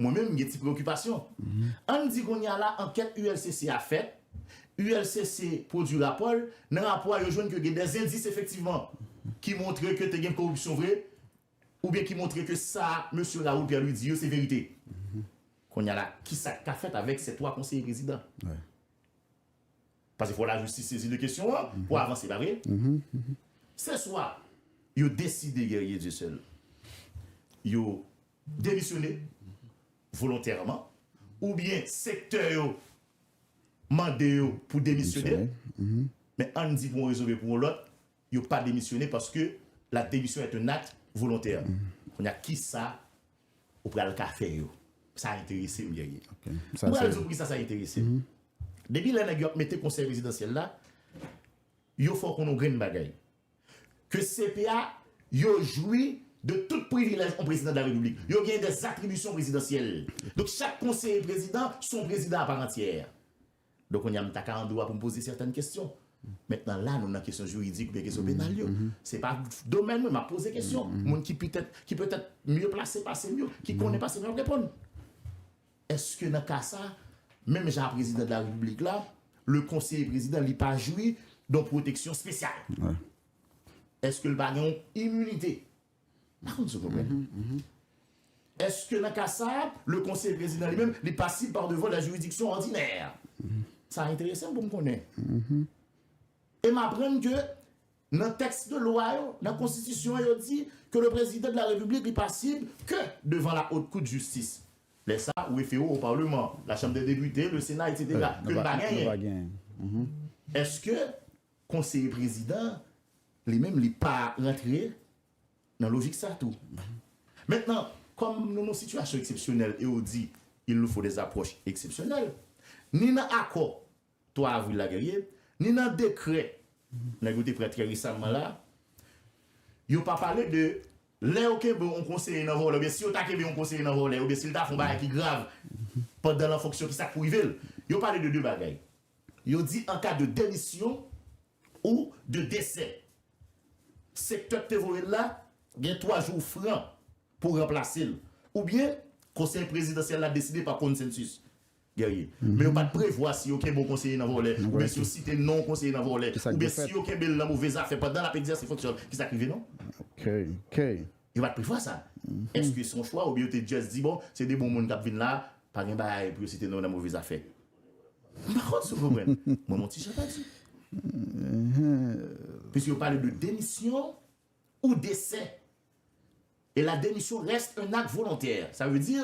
Mwen menm m gen ti preokipasyon. An n di kounye a la ankèt ULCC a fèt, ULCC pwodui rapò l, nan rapò a yo jwenn ke gen dè zendis efektivman ki montre ke te gen koripsyon vre oubyen ki montre ke sa mesye Raoul Pierre-Louis di yo se verite. Kounye a la ki sa k ka fèt avèk sè twa konseye prezidan? Paske fò lajistis sezi de kesyon an pou avanse, pa vre? Se swa yo deside Guerrier Dieuseul yo demisyone volontèman oubyen sektè yo mande yo pou demisyone men ann di pou yon rezon oubyen pou yon lòt yo pa demisyone paske la demisyon èt yon akt volontè kounye a kisa ou pral ka fè yo sa enterese m Guerrier m pral di w poukisa sa enterese m depi lè nèg yo ap mete konsèy prezidansyèl la yo fè w konnen yon grenn bagay ke cpa yo jwi de tout privilèj on prezidan de la repiblik, yo gen des atribisyon prezidansyèl. Donk chak konseye prezidan son prezidan a parantyè. Donk kounye a m ta ka an dwa pou m poze sètèn kesyon. Mentnan la nou nan kesyon jiridik oubyen kesyon penal yo. Se pa domèn mwen, m ap poze kesyon. Moun ki petèt mye plase pase m yo, ki konnen pase m yo ap reponn. Eske nan ka sa, menm jan a prezidan de la repiblik la, le konseye prezidan li pa jwi don pwoteksyon spesyal? Eske li pa gen yon iminite? M pa konn si w konprann. Eske nan ka sa, le konseye prezidan li menm li pa sib par devan la jiridiksyon òdinè? Sa enterese m pou m konnen. E m aprann ke Nan tèks de lwa yo, nan konstitisyon an yo di ke le prezidan de la repiblik li pasib ke devan la haute cour de justice. Lè sa, ou refere w o parleman, la chanm dè depite, le sena etc. Ke n pa genyen. Eske konseye prezidan an li menm li pa rantre nan lojik sa tou? Mentnan, kòm nou nan sitiyasyon eksepsyonèl e ou di il nous faut des approches exceptionnelles, ni nan akò 3 avril la guerrier, ni nan dekrè nèg yo te pran trè resamman la, yo pa pale de lè yo kenbe yon konseye nan vòlè oubyen si yo ta kenbe yon konseye nan vòlè oubyen si l ta fè yon bagay ki grav pandan l an fonksyon ki sa k pou rive l. Yo pale de 2 bagay. Yo di an ka de demisyon ou de desè, sektè k te voye l la gen 3 jou fran pou ranplase l oubyen konsèy prezidansyèl la deside pa konsensis. Guerrier. Men yo pat prevwa si yo kenbe yon konseye nan vòlè oubyen si yo site non yon konseye nan vòlè oubyen si yo kenbe l nan move zafè pandan l ap egzèse fonksyon l. Ki sa k rive non? Guerrier. Yo pat prevwa sa. Èske se yon chwa oubyen yo te just di bon se 2 bon moun k ap vin la, pa gen bagay pou yo site non yo nan move zafè? M pa konn si w konprann. Mwen yon ti jan pèdi. Pwiske yo pale de demisyon ou desè E la demisyon reste un acte volontaire. Sa vle di,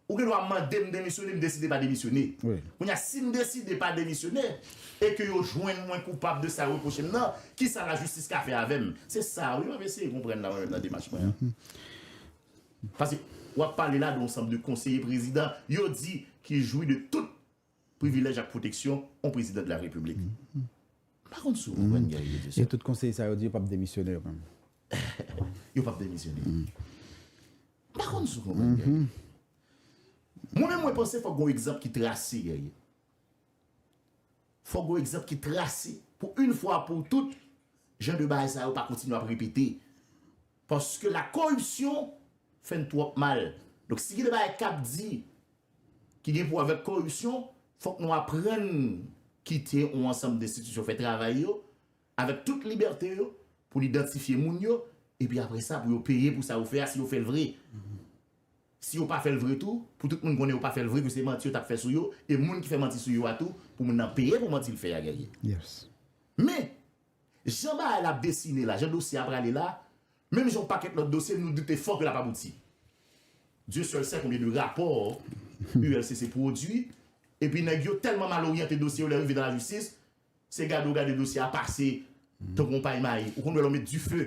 ou gen dwa mande m demisyone, m deside pa demisyone. Kounye a, si m deside pa demisyone, e ke yo jwenn mwen koupab de sa yo repwoche m nan, ki sa lajistis ka fè avè m? Se sa a wi m ap eseye konprann la mwen menm nan demach mwen an. Paske, w ap pale la de yon sanm de konseye prezidan, yo di, ki jwi de tout. privilèj ak pwoteksyon on prezidan de la repiblik. M pa konn si w konprann Gary Peterson. Epi tout konseye sa yo di yo pap demisyone yo menm. Yo pap demisyone. M pa konn si w konprann Gary. Mwen menm mwen panse fòk gen yon egzanp ki trase Gary. Fòk gen yon egzanp ki trase pou yn fwa pou tout jan de bagay sa yo pa kontinye ap repete. Paske la koripsyon fè n twòp mal. Donk si gen de bagay k ap di. ki gen pou wè avèk koripsyon, fòk nou aprann kite yon ansanm denstitisyon fè travay yo avèk tout libète yo pou l idantifye moun yo epi apre sa pou yo peye pou sa yo fè a si yo fè l vre. Si yo pa fè l vre tou, pou tout moun konnen yo pa fè l vre ke se manti yo t ap fè sou yo e moun ki fè manti sou yo a tou pou moun nan peye pou manti l fè a Guerrier. Men! Jan bagay la ap desine la, jan dosye a prale la, menm jan yon pakèt lòt dosye, nou doute fò ke l ap abouti. Dieu seul sait konbyen de rapò ULCC pwodui, epi nèg yo tèlman mal oryante dosye yo lè yo rive nan lajistis, se gade ou gade dosye a pase tankou yon pay mayi. Ou konn wè lè w met dife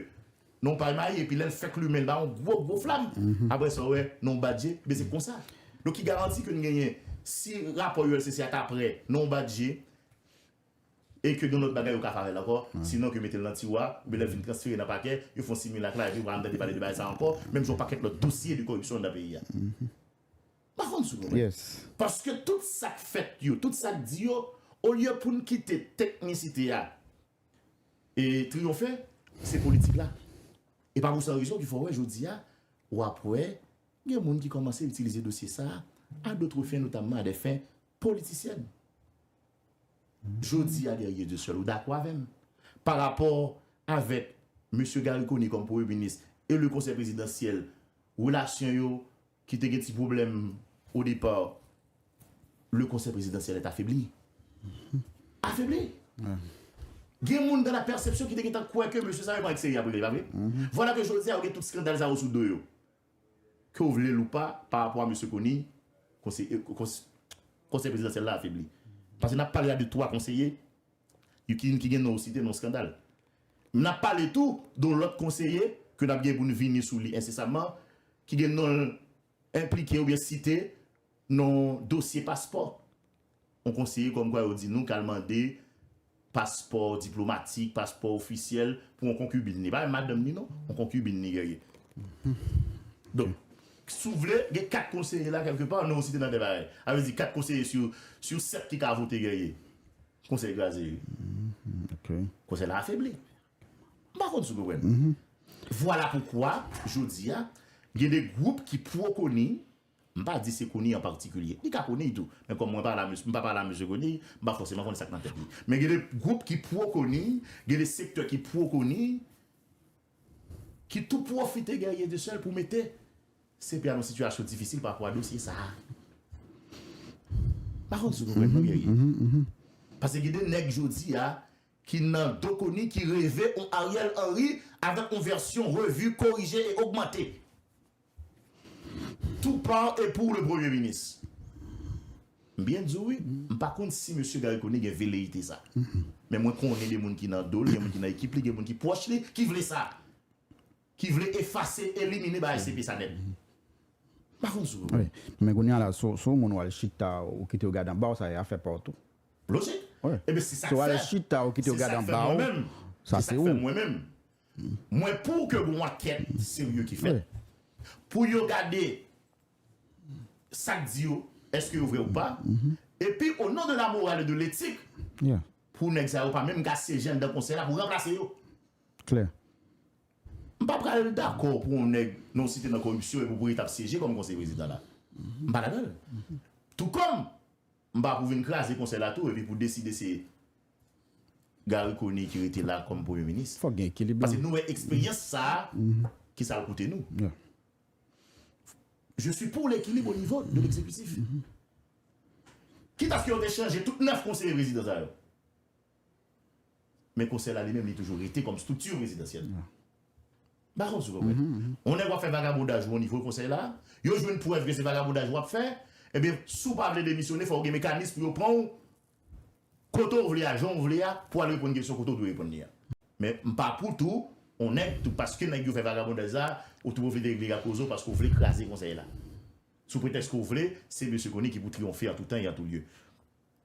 nan yon pay mayi epi lè l fèk limen l ba ou yon gwo gwo flam, aprè sa ou wè nan yon bat je, enben se konsa. Donk ki garanti ke n genyen si rapò ULCC a ta prè nan yon bat je, E ke gen lòt bagay yo ka fè avè l ankò, sinon ke mete l nan tiwo a, oubyen lè l fin transfere nan pakè, yo fè yon similak la epi ou pa janm tande pale de bagay sa ankò, menm jan yon pakèt lòt dosye de koripsyon anndan peyi a. M pa fon m sou nou menm. Paske tout sa k fèt yo, tout sa k di yo, olye pou n kite teknisite a triyonfe, se politik la. E pa pou san rezon ki fè w wè jodi a, w ap wè gen moun ki kòmanse itilize dosye sa a dotre fen, notamman a dè fen politisyèn. Jodi a Guerrier Dieu Seul ou dakò avè m pa rapò avèk Mesye Garry Conille kòm premye minis e le konsèy prezidansyèl relasyon yo ki te gen ti pwoblèm o depa le konsèy prezidansyèl est afebli? Afebli! Gen moun dans la perception ki te gen tan kwè ke mesye sa yo pa ak serye a prive pa vre? Vwala ke jodi a yo gen tout skandal sa yo sou do yo. ke w vle l ou pa, pa rapò a Mesye Conille, Konsèy Prezidansyèl la afebli. Paske n ap pale a de 3 konseye yo ki youn ki gen non w site nan yon skandal. N ap pale tou de yon lòt konseye ke n ap gen pou n vini sou li ensesamman, ki gen non l enplike oubyen site nan yon dosye paspò. On konseye kòm kwa yo di nou kal mande paspò diplomatik, paspò ofisyèl pou on konkibin li. Pa menm madanm ni non, on konkibin ni ke ye. Donk, si w vle, gen 4 konseye la kèlke pa, non w site nan 2 bagay. A vle di 4 konseye sou 7 ki ka vote ke ye. Konsèy kraze wi. Konsèy la afebli. M pa konn si w konprann. Vwala poukwa, jodi a, gen de gwoup ki pwo koni, M pa di se Conille an patikilye. Li ka Conille tou. Men kòm mwen pa la, m pa pale a mesye Conille, m pa fòseman konnen sa k nan tèt li. Men gen de gwoup ki pwo Conille, gen de sektè ki pwo Conille, ki tou pwofite Guerrier de Seul pou mete CP a nan yon sitiyasyon difisil pa rapò a dosye sa a. M pa kwè se nou menm non Guerrier. Pase gen de nèg jodi a ki nan do Conille ki reve yon Ariel Henry avèk yon vèsyon revu, korije e ogmante. Tout par et pour le premye minis. M byen di w wi, m pa konn si mesye Garry Conille gen veleyite sa. Men mwen konnen de moun ki nan do l, gen moun ki nan ekip li, gen moun ki pwòch li, ki vle sa. Ki vle efase, elimine bagay CP sa nèt. M pa konn si w. Wi. Men kounye a la, si w si w moun w al chita, ou kite yo gade anba w, sa e afè pa w tou. Lojik. Wi. Eben se sa k fè. Si w al chita, ou kite yo gade anba w, sa se ou. Se sa k fè mwen menm. Mwen pouw ke gon ankèt serye ki fèt pou yo gade sak di yo eske yo vrè ou pa epi o non de la moral e de letik pou nèg sa yo pa menm ka syeje anndan konsèy la pou ranplase yo. M pa pral dakò pou on nèg non site nan koripsyon epi pou li tap syeje kòm konseye prezidan la. M pa ladanl. Tou kòm M pa pou vin kraze konsèy la tou epi pou deside se Garry Conille ki rete la kòm premye minis. Fòk gen ekilib lan. Paske nou wè eksperyans sa a ki sa l koute nou. Je suis pour l'equilibre au niveau de l'exécutif. Kit aske yo te chanje tout 9 konseye prezidan sa yo. Men konsèy la li menm li toujou rete kòm strikti prezidansyèl. M pa konn si w konprann. Yon nèg w ap fè vagabondaj ou o nivo konsèy la, yo jwenn prèv ke se vagabondaj w ap fè, ebyen si w pa vle demisyone fò w gen mekanis pou yo pran w kote w vle a, jan w vle a pou w al reponn kesyon kote w dwe reponn li a. Men m pa pou tou yon nèg tou paske nèg yo fè vagabondaj sa a, ou tou pwofite regle ak Rozo paske w vle kraze konsèy la. Sou pretèks ke w vle se Mesye Conille ki pou triyonfe an tou tan e an tou lye.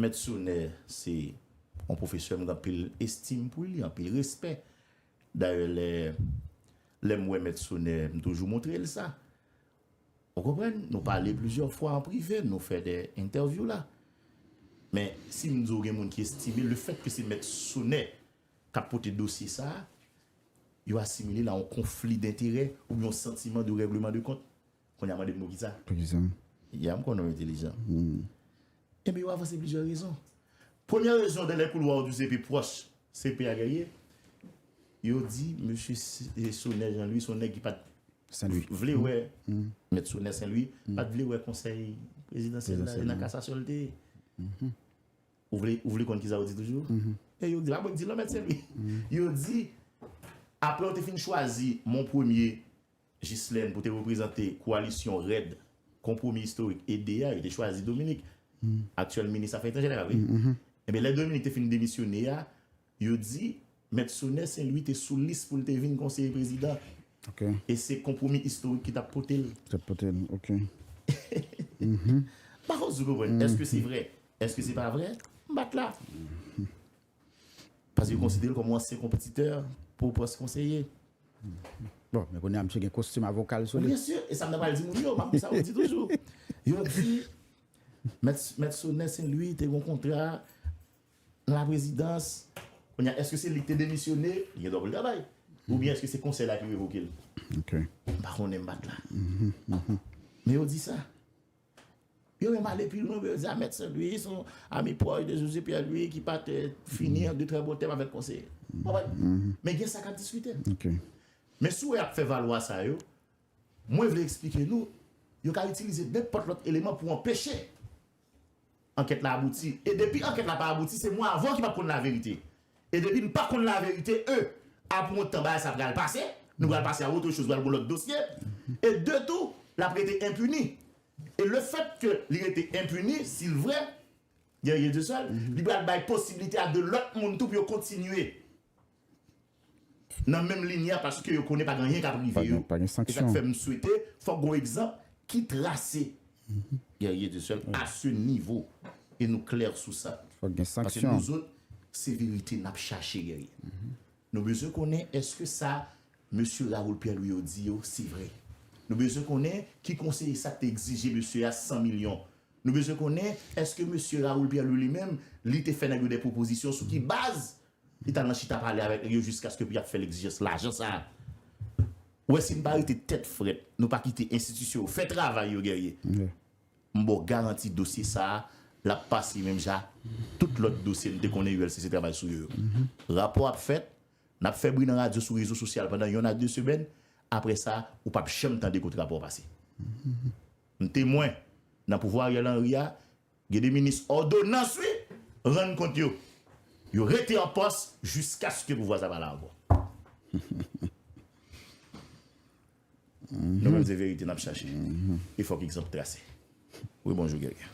Mèt Sonè se yon pwofesè m gen anpil estim pou li, anpil respè. Dayè lè lè m wè Mèt Sonè m toujou montre l sa. Ou konprann? Nou pale plizyè fwa an prive, nou fè de entèvyou la. Men, si m di w gen moun ki estime l, lefèt ke se Mèt Sonè k ap pote dosye sa a, yo asimile l a yon konfli denterè oubyen yon santiman de règleman de kont. Kounye a mande m poukisa? Poukisa? Ya m konnen w entelijan. Enben yo avanse plizyè rezon. Premye rezon de lè koulwa w di w se pi pwòch CP a gèrye, yo di mesye Sonè Jan Lwi s on nèg ki pa t vle wè mèt Sonè Sen Lwi pa t vle wè konsèy prezidansyèl la e nan kasasyon l te ye. Ou vle konn kisa yo di toujou? E yo di la mwen k di l non mèt Sen Lwi. Yo di apre yo te fin chwazi Monpremye Jislèn pou te reprezante koalisyon rèd Konpwomi Istorik, ede, a, yo te chwazi Dominik, aktyèl minis afè etranjè la, wi. Enben, lè Dominik te fin demisyone a, yo di Mèt Sonè Senlwi te sou lis pou l te vin konseye prezidan e se Konpwomi Istorik ki t ap pote l. Ki t ap pote l, ok. M pa fouti konprann. Èske se vrè? Èske se pa vrè? M bat la. Paske yo konsidere l kòm yon ansyen konpetitè pou pòs konseye. Bon, men kounye a msye gen kostim avoka l sou li. Byen sur, e sa m ta pral di moun yo, m ap di sa yo di toujou. Yo di, Mèt Sonè Sen Lwi te gen yon kontra nan laprezidans, kounye a èske se li ki te demisyone, li gen dwa pou l travay, oubyen èske se konsèy la ki revoke l? M pa konnen, m pa t la. Men yo di sa. Yo menm ale pi lwen pou yo di a Mèt Senlwi se yon ami pwòch de José Pierre Louis ki pa te fini an de trè bon tèm avèk konseye. Ou konprann? Men gen sa k ap diskite. Men sou wè ap fè valwa sa yo, mwen vle eksplike nou, yo ka itilize nenpòt lòt eleman pou anpeche. Ankèt la abouti e depi ankèt la pa abouti se mwen avè w ki pap konn laverite e depi n pa konn laverite e apre yon tan bagay sa pral pase nou pral pase a otre choz pral gen yon lòt dosye e de tou lap rete enpini e le fèt ke li rete enpini si l vrè gen rye de sèl li pral bay posiblite a de lòt moun tou pou yo kontinye. nan menm ligne a paske yo konnen pa gen anyen kap rive yo e sak fè m swete fòk gon egzanp ki trase Guerrier de Seul a se nivo e nou klè sou sa paske nou zot se verite nap chache Guerrier nou bezwen konnen eske sa mesye Raoul Pierre Louis yo di yo se vre nou bezwen konnen ki konseye sak te egzije mesye a 100 milyon nou bezwen konnen eske mesye Raoul Pierre Louis li menm li te fè nèg yo de pwopozisyon sou ki baz Li t al nan chita pale avèk li yo jiskaske pou y ap fè l egzijans lajan sa a. Ou wè si n pa rete tèt frèt, nou pa kite enstitisyon yo fè travay yo Guerrier, m ba w garanti dosye sa a l ap pase menm jan ak tout lòt dosye n te konnen ULCC travay sou yo yo. Rapò ap fèt, n ap fè bri nan radyo sou rezo sosyal pandan yonn a de semèn, apre sa ou p ap janm tande kont rapò pase. M temwen, nan pouvwa Ariel Henry a, Gen de minis òdonans wi, rann kont yo. Yo rete an pòs jiskaske pouvwa sa pa la ankò. Nou menm se verite nap chache e fòk egzanp trase. Wi bonjou Guerrier.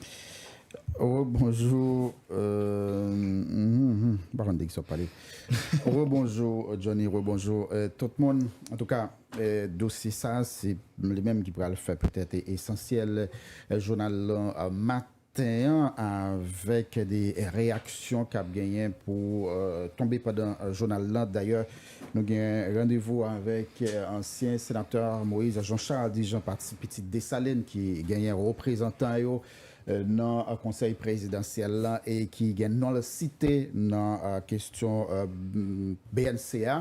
Rebonjou M pa konn de kisa wap pale. Rebonjou Johnny, rebonjou tout moun. Antouka Dosye sa a se li menm ki pral fè petèt esansyèl jounal maten an avèk de reyaksyon k ap genyen pou tonbe pandan jounal lan. Dayè nou gen randevou avèk ansyen senatè Moïse Jean Charles di jan pati pitit Desalin ki genyen reprezantan yo nan konsèy prezidansyèl la e ki gen non l site nan kestyon bnc a.